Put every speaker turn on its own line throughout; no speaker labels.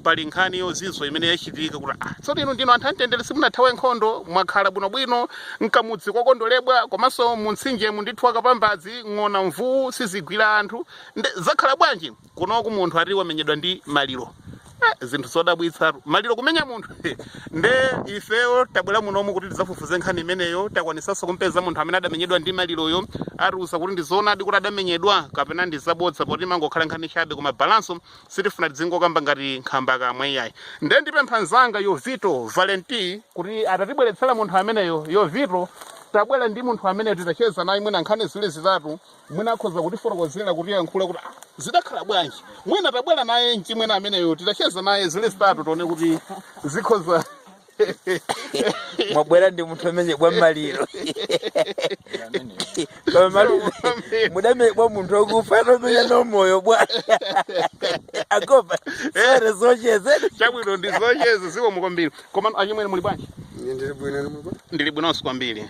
pali nkhani yozizwa imene yachitika kuti ah, tsono inu ndinu anthu amtendere simunathawe nkhondo mwakhala bwinobwino mkamudzi kwakondolebwa komanso muntsinjemu ndithu akapambazi ng'ona mvuwu sizigwira anthu nde zakhala bwanji kunoku munthu ati womenyedwa ndi maliro eh, zinthu zodabwitsa maliro kumenya munthu nde ifeyo tabwera munomu kuti tidzafufuze nkhani imeneyo takwanisanso kumpeza munthu amene adamenyedwa ndi maliroyo atiuze kuti ndizoonadi kuti adamenyedwa kapena ndi zabodza poti mangokhala nkhani chabe koma balanso sitifuna tidzingokamba ngati nkhambakamwa iyayi nde ndipempha nzanga yovito valenti kuti atatibweretsera munthu ameneyo yovito tabwera ndi munthu amene titacheza naye mwina nkhani zili zitatu mwina akhoza kutifotokozera kutiyankhula kuti "Ah, zidakhala bwanji mwina tabwera naye mchimwene ameneyo titacheza naye zili zitatu tione kuti zikhoza
mwabwera ndi munthu omenyebwa maliro Bwa maliro. mudamenyebwa munthu okufa atomenya na moyo bwa akopa sere zocheze chabwino ndidzacheze
zikomo kwambiri Koma achimwene muli bwanji? Ine ndili bwino inu muli bwanji? Ndili bwinonso kwambiri.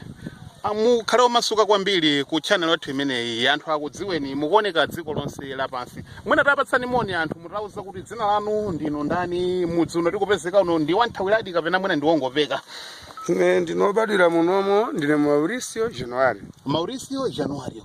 Ah, Mukhale omasuka kwambiri ku channel yathu imeneyi. Anthu akudziweni mukuoneka dziko lonse lapansi. Mwina tapatsani moni anthu mutauza kuti dzina lanu ndinu ndani, mudzi uno tikupezeka uno ndi wothawiradi kapena mwina ndi wongopeka. Ine
ndinobadwira munomo ndine Mauricio January. Mauricio Januario.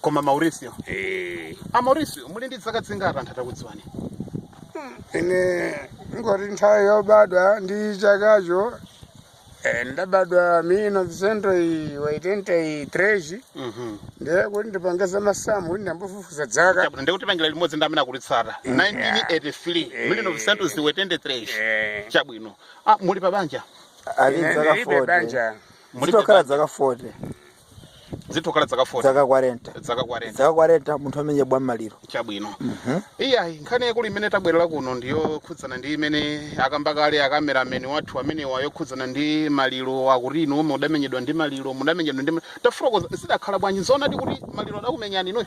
koma mauricio Eh, a mauricio muli ndi zaka zingati anthu atakudziwa
ine ngoti nthawi yobadwa ndi chakacho eh, ndabadwa mil novecentos oitenta e três Mhm. ndiye kuti ndipange za masamu kuti ndambofufuza dzaka Chabu- ndi kutipangira limodzi
ndi amene akulitsata 1983 mil novecentos oitenta e 3 Eh, chabwino ah, muli pa banja ali ine dzaka
ndilibe 40 banja muli zitokhala dzaka 40
zitokhala dzaka 40 dzaka 40 dzaka
40 dzaka 40 munthu omenyebwa maliro
chabwino iyayi nkhani yaikulu imene tabwerera kuno ndiyokhudzana ndi imene akamba kale akamerameni wathu amenewa yokhudzana ndi maliro akuti inu omwe mudamenyedwa ndi maliro mudamenyedwa ndi ma- tafotokoza zidakhala bwanji nzoonadi kuti maliro adakumenyani inuyo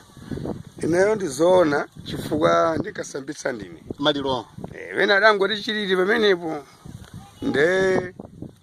ineyo ndizoona chifukwa ndikasambitsa ndine maliro Eh,
wena adangoti
chilili pamenepo nde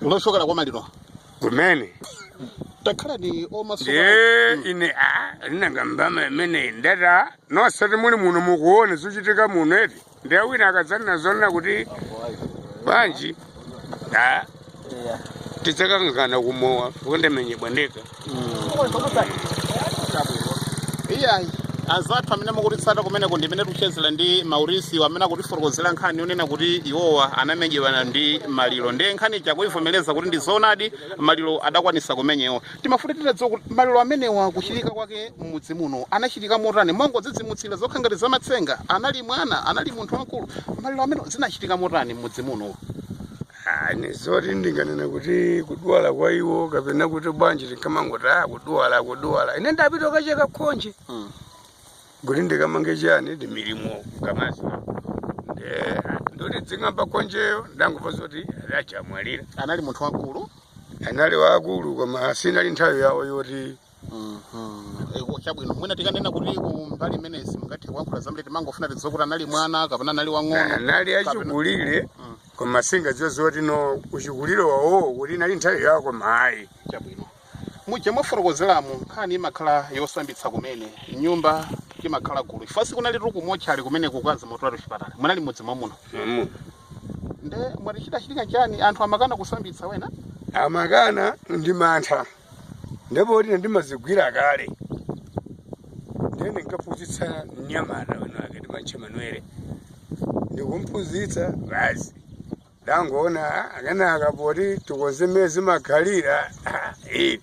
loshokera kwa maliro
kumene
takhala ni omaso ndiye ine a
linanga mbama imeneyi ndata nosati muli muno mukuone zochitika muno eti ndiye wina akadzanena zonena kuti bwanji a tidzakangana kumawa kuti ndamenyebwa ndeka
iyayi azathu amene mukutitsata kumeneko ndi mmene tikuchezera ndi mauricio amene akutifotokozera nkhani yonena kuti iwowa anamenyedwa ndi maliro ndiye nkhani ija kuivomereza kuti ndi zoonadi maliro adakwanisa kumenyewa timafuna titadziwa kuti maliro amenewa kuchitika kwake m'mudzi muno anachitika motani mongodzidzimutsira zokha ngati zamatsenga anali mwana anali munthu wamkulu maliro amenewa zinachitika motani m'mudzi muno
Ani zoti ndinganene kuti kudwala kwa iwo kapena kuti bwanji tinkamangoti ah kudwala kudwala ine ndapita kukacheka khonje Mm. kuti ndikamange chani ndi milimo kamazi Eh, ndoti dzing'amba khonjeyo ndangomva zoti adachamwalira anali munthu wamkulu
anali
waakulu koma sinali nthawi yawo yoti
Eko chabwino mwina tikanena kuti ku mbali imeneyi simungathe kuyankhula zambiri timangofuna tidziwe kuti anali mwana kapena anali wang'ono anali achikulire
Mm. koma singadziwe zoti no uchikulire wawo kuti inali nthawi yawo koma ayi chabwino
muja mwafotokozeramu nkhani imakhala yosambitsa kumene nyumba imakhala gulu ifa sikunali tuku mochali kumene kukazi motolatu chipatala munali m'mudzi mwamuno Mamu. nde mwati chidachitika chani anthu amakana kusambitsa wena amakana
ndi mantha ndipoti ine ndimazigwira kale ndiye ndinkaphunzitsa mnyamata winake timamutcha manuele ndikumphunzitsa basi ndangoona akanaka poti tikonze mmene zimakhalira ah, eh.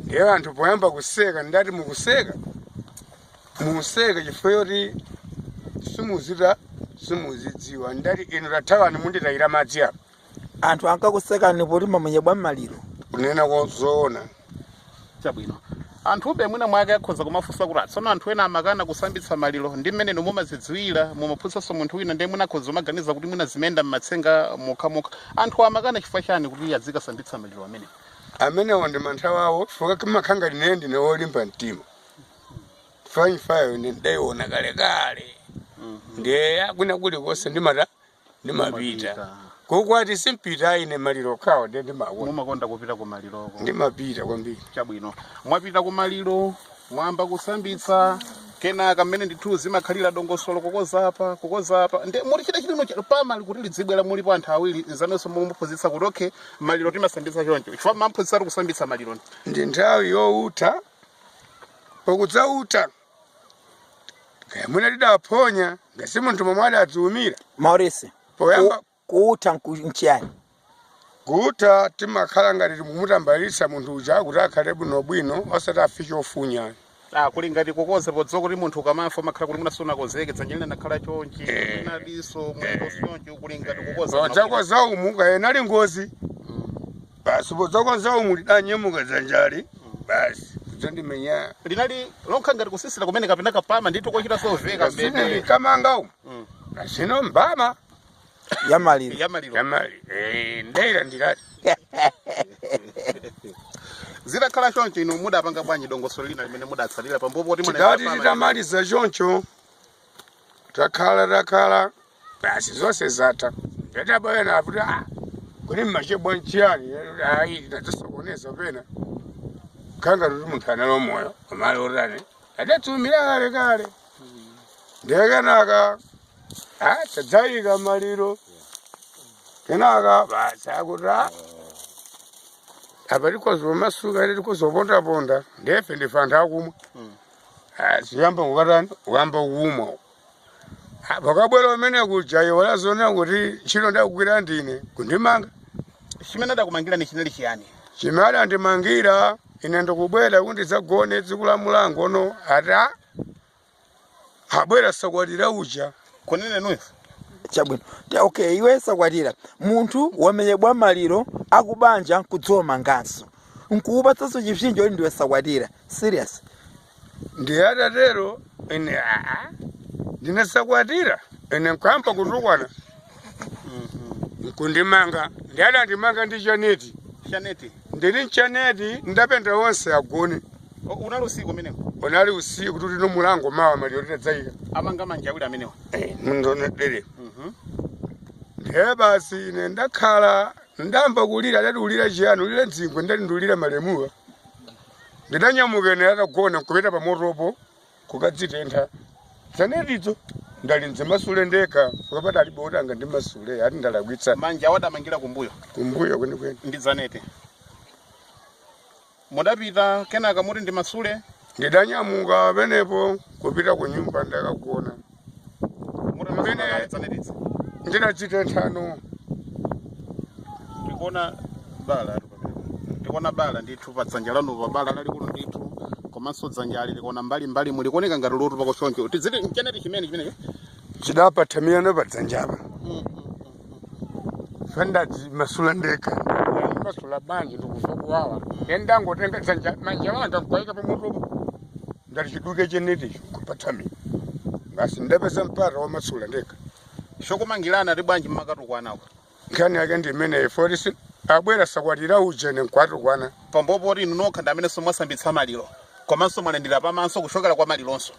ndiye anthu poyamba kuseka ndati mukuseka museka chifukwa choti simuzita simuzidziwa ndati inu tathawani munditayira madzi apa
anthu ankakusekani poti mwamenyedwa ndi maliro kunena
kozoona
chabwino anthu mwina mwake akhoza kumafunsa kuti tsono anthu ena amakana kusambitsa maliro ndi mmene inu mumazidziwira mumaphunsanso munthu wina ndiye mwina akhoza kumaganiza kuti mwina zimayenda m'matsenga mokhamokha anthu amakana chifukwa chani kuti azikasambitsa maliro amenewo
ndi mantha wawo chifukwa kimakhanga linene ndine wolimba mtima fanyifayo ndidaiona kalekale ndiye akwina kulikonse ndimata ndimapita kukwati simpita ine maliro okhawo nde ndimakonda mumakonda kupita ku
maliroko ndimapita
kwambiri chabwino mwapita
ku maliro mwayamba kusambitsa kenaka mmene ndithu zimakhalira dongosolo kukonza apa kukonza apa nde muli chita chilino cha- pamali kuti lidzibwera mulipo anthu awiri nzanunso mumuphunzitsa kuti okay maliro timasambitsa choncho chifukwa mwamphunzitsa kuti kusambitsa maliro ndi nthawi
youtha pokudzautha kaya mwina tidaphonya ngati munthu momwe adadziumira
maurisi
poyamba kuutha
nchiyani kuutha
timakhala ngati tikumutambalitsa munthu uja kuti akhale bwinobwino osati afike ofunya Ah, kuli
ngati kukonza podziwa kuti munthu ukamafa umakhala kuti simunakonzeke dzanja lina nakhala chonchi Eh. lina diso mwendo chonchi kuli ngati kukonza podzakonza umu kaya
inali ngozi basi podzakodza umu lidanyemuka dzanjali basi kudzandimenya linali
lokha ngati kusisira kumene kapena kupama ndithu kochita soveka zine mbende likamanga
umu Mm. kasino mbama yamaliro
yamaliro yamali
eh, ndiye
ndikuti zitakhala choncho inu mudapanga bwanji dongosolo lina limene mudatsalira pambuyo poti tikati titamaliza
choncho takhala takhala basi zonse zatha ndadabwa ena akuti ah kodi mmachedwa nchiyani ayi ndadzasokoneza pena khanga kuti munthu anali moyo amali otani adatsikira kale kale ndiye kenaka ah tadzayika maliro kenaka basi akuti ah apa tikozomasuka ine tikozopondaponda ndefe ndife anthu akumwa ziyamba kukatani kuyamba kumwa pokabwera kumene kuja iwo adzionera kuti ntchito ndikugwira ndine kundimanga
chimene adakumangirani chinali chiyani chimene adandimangira
ine ndi kubwera kuti ndidzagone tsiku la mulango ono ata abwera sakwatira uja kunene
nuyo
chabwino Te- okay iwe sakwatira munthu wamenyedwa maliro a kubanja kudziwa manganso nkukupatsanso chipsinjo kuti ndiwe sakwatira serious
ndiye atatero ine aa ndine sakwatira ine nkuyamba kutukwana nkundimanga ndiye adandimanga ndi chaneti chaneti ndili nchaneti ndapenda onse agone O, unali
usiku umeneko unali usiku
kuti tino mulango mawa maliro titadzayika amanga manja
awiri amenewa
mndonedere Mhm. ndiye basi ine ndakhala ndayamba kulira adati ulira chiyani ulira dzingwe ndati ndulira malemuwa Ndidanyamuka ine atagona nkupita pamotopo kukadzitentha. Dzanetidzo ndati ndidzimasule ndekha chifukwa padalibe woti angandimasule ati ndalakwitsa manja adamangira
kumbuyo kumbuyo
kwenikweni. ndi
zaneti mudapita kenaka muti ndimasule Ndidanyamuka
pamenepo kupita ku nyumba ndakagona. ndinachita nthano ndikuona
bala ali pamene. ndikuona bala ndithu pa dzanja lanu pa bala lalikulu ndithu komanso dzanjali likuoneka mbali mbali muli kuoneka ngati lotupako choncho tiziti mcheneti chimene chimenecho chidaphathamira
pa dzanjapa nati ndimasule ndekha masula bwanji ndikuva kuwawa ndendangotenga dzanja manja anga kukaika pamotopo ndati chiduke cheneticho kuphathami basi ndapeza mpata womasula ndekha
chokumangirana ati bwanji mmakatukwanako nkhani yake ndi
imeneyi forisi abwera sakwatira uja ine nkuwatukwana pambuyo poti inu
nokha ndi amenenso mwasambitsa maliro komanso mwalandira pamaso kuchokera kwa malironso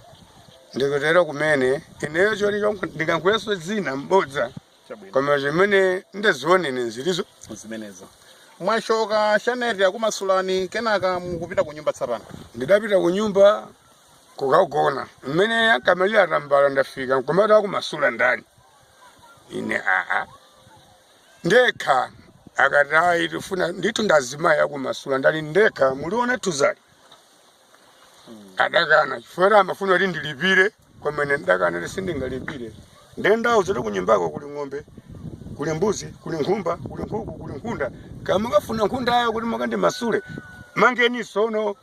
ndikutero
kumene ineyo choti chonka ndikanguyeso dzina mbodza Chabwino. koma chimene ndaziona ine ndizo
zimenezo mwachoka cheni akumasulani kenaka mukupita ku nyumba tsapano ndidapita ku nyumba
kukagona mmene akamalira atambala ndafika nkomati akumasula ndani ine aa ndekha akati ayi tifuna ndithu ndazimayi akumasula ndani ndekha muliona tuzali adakana chifukwa amafuna kuti ndilipire koma ine ndidakana kuti sindingalipire ndiye ndawo zoti kunyumbako kuli ng'ombe kuli mbuzi kuli nkhumba kuli nkhuku kuli nkhunda akamakafuna nkhundayo kuti mukandimasule mangeni sono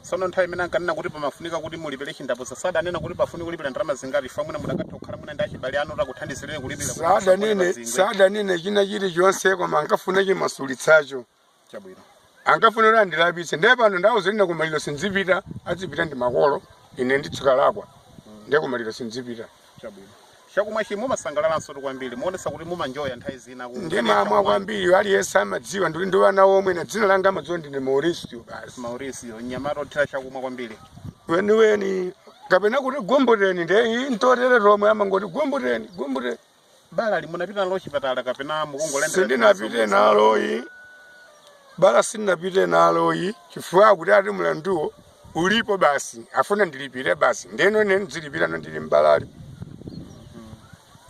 sono nthawi imene ankanena kuti pamafunika kuti mulipire chindapusa sadanena kuti pafunika kulipira ndalama zingati fa mwina mukadatha kukhala mwina ndi achibale anu takuthandizireni kulipira kuti musakhale pazingwe. sadanene
china chilichonse koma ankafuna chimasulitsacho
chabwino ankafuna
kuti andilapitse ndiye pano ndawuza kuti kumaliro sindzipita adzipita ndi makolo ine nditsikalakwa ndiye kumaliro sindzipita chabwino
chakumwachi mumasangalalanso tu kwambiri muonesa kuti mumanjoya nthawi zina ku- ndimamwa
kwambiri aliyense amadziwa ndili ndi wana omwe ndi dzina langa amadziwa ndine mauricio basi mauricio mnyamata
othera chakumwa kwambiri weniweni
kapena kuti gumbuteni ndiye iyi ntotere tomwe amangoti gumbuteni gumbuteni
balali munapita nalo chipatala kapena mukungolembera sindinapite
naloyi bala sindinapite naloyi chifukwa choti ati mlanduwo ulipo basi afuna ndilipire basi ndeno ine ndizilipira no ndili
mbalali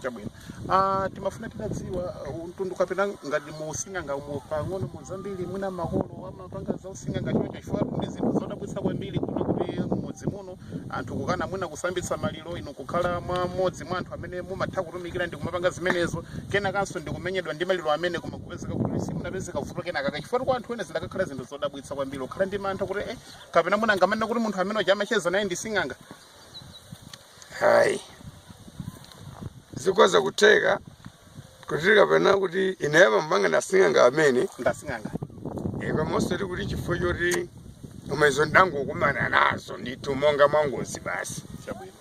chabwino ah timafuna tidadziwa uh, mtundu kapena ngati usinganga umo pang'ono muzambiri mwina makolo ama panga zausing'anga choncho chifukwa ndi zinthu zodabwitsa kwambiri kuno kuti mmudzi muno anthu kukana mwina kusambitsa maliro inu kukhala mwa mmodzi mwa anthu amene mumatha kutumikira ndi kumapanga zimenezo kenakanso ndi kumenyedwa ndi maliro amene koma kupezeka kuti simunapezeka vuto kenaka chifukwa kwa anthu ena zidakakhala zinthu zodabwitsa kwambiri kukhala ndi mantha kuti eh, kapena mwina angamanene kuti munthu amene uja amacheza naye ndi sing'anga
Ayi, zikhoza kutheka kuti kapena kuti ine amandipanga ndi asing'anga amene ndi
asing'anga Eh, koma osati
kuti chifukwa choti koma izo ndangokumana nazo ndithu monga mwangozi basi
chabwino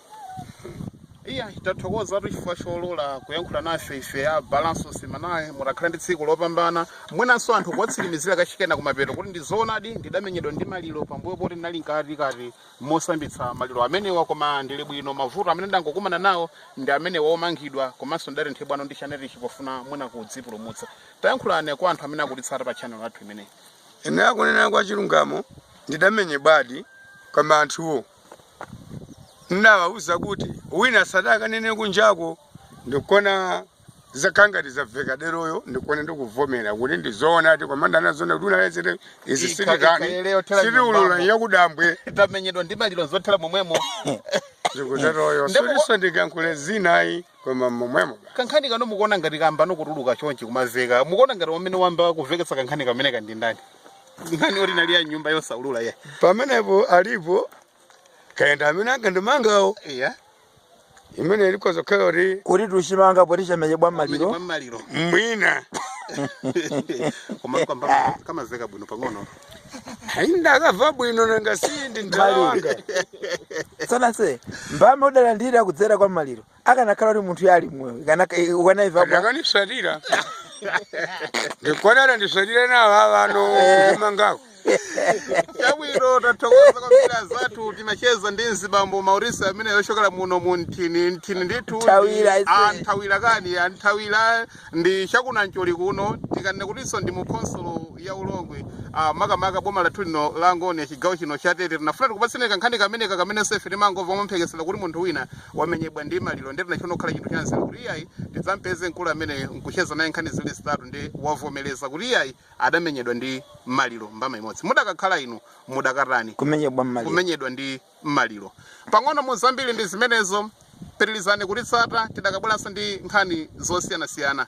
iya tathokoza tu chifukwa cholola kuyankhula nafe ife ya balanso semanal mukhale ndi tsiku lopambana mwinanso anthu kuwatsimikizira kachikenanso kumapeto kuti ndizoonadi ndidamenyedwa ndi maliro pambuyo poti ndinali mkatikati mosambitsa maliro amenewa koma ndili bwino mavuto amene ndangokumana nawo ndi amenewo omangidwa komanso ndidatenthedwanso ndi chenichi pofuna mwina kudzipulumutsa tayankhulani kwa anthu amene akutitsata pa chanel yathu imeneyi ine
akunena kwa chilungamo ndidamenyedwadi koma anthuwo ndawauza kuti wina asatakanene kunjako ndikona zakhala ngati zaveka deroyo ndikuona ndikuvomera kuti ndizoonadi koma ndanazona kuti unalezete izi sitiulula yakudambwe tamenyedwa ndi maliro
zothera momwemo zikuteroyo
soliso ndikankhule zinayi koma momwemo kankhani kano
mukuona ngati kambano kutuluka chonchi kumaveka mukuona ngati amene wayamba kuveketsa kankhani kamene kandi ndi ndani nkhani oti nali ya nyumba yosaulula ya pamenepo alipo
kayenda amene ankandimangawo iya imene ikhoza kukhala kuti kuti tuchimanga
poti chamenyedwa maliro
mwina Koma kamba kamaveka bwino pang'ono.
ndakava bwino nanga si ndi mtala
wanga sonase mbama udalandira kudzera kwa maliro akanakhala kuti munthu yali moyo ukanayiva
akandisatira ndikwanana ndisatire nawo avano kumangako
chabwino tathokoza kwambiri azathu timacheza ndi mzibambo Mauricio amene wochokera muno mu Nthawira kani ah, nthawira ndi cha ku Namcholi kuno tikanene kutinso ndi mu khonsolo ya ulongwe ah, makamaka boma lathu lino la Angonia chigawo chino cha tete tinafuna tikupatseni kankhani kameneka kamene nafe timangomva momphekesera kuti munthu wina wamenyedwa ndi maliro ndi tinachona kukhala chinthu chanzeru kuti iyayi tidzampeze mkulu amene nkucheza naye nkhani zili zitatu ndi wavomereza kuti iyayi adamenyedwa ndi maliro mbama imodzi mudakakhala inu mudakatani kumenyedwa ndi maliro pang'ono mu zambiri ndi zimenezo pitilizani kutitsata tizakabweranso ndi nkhani zosiyanasiyana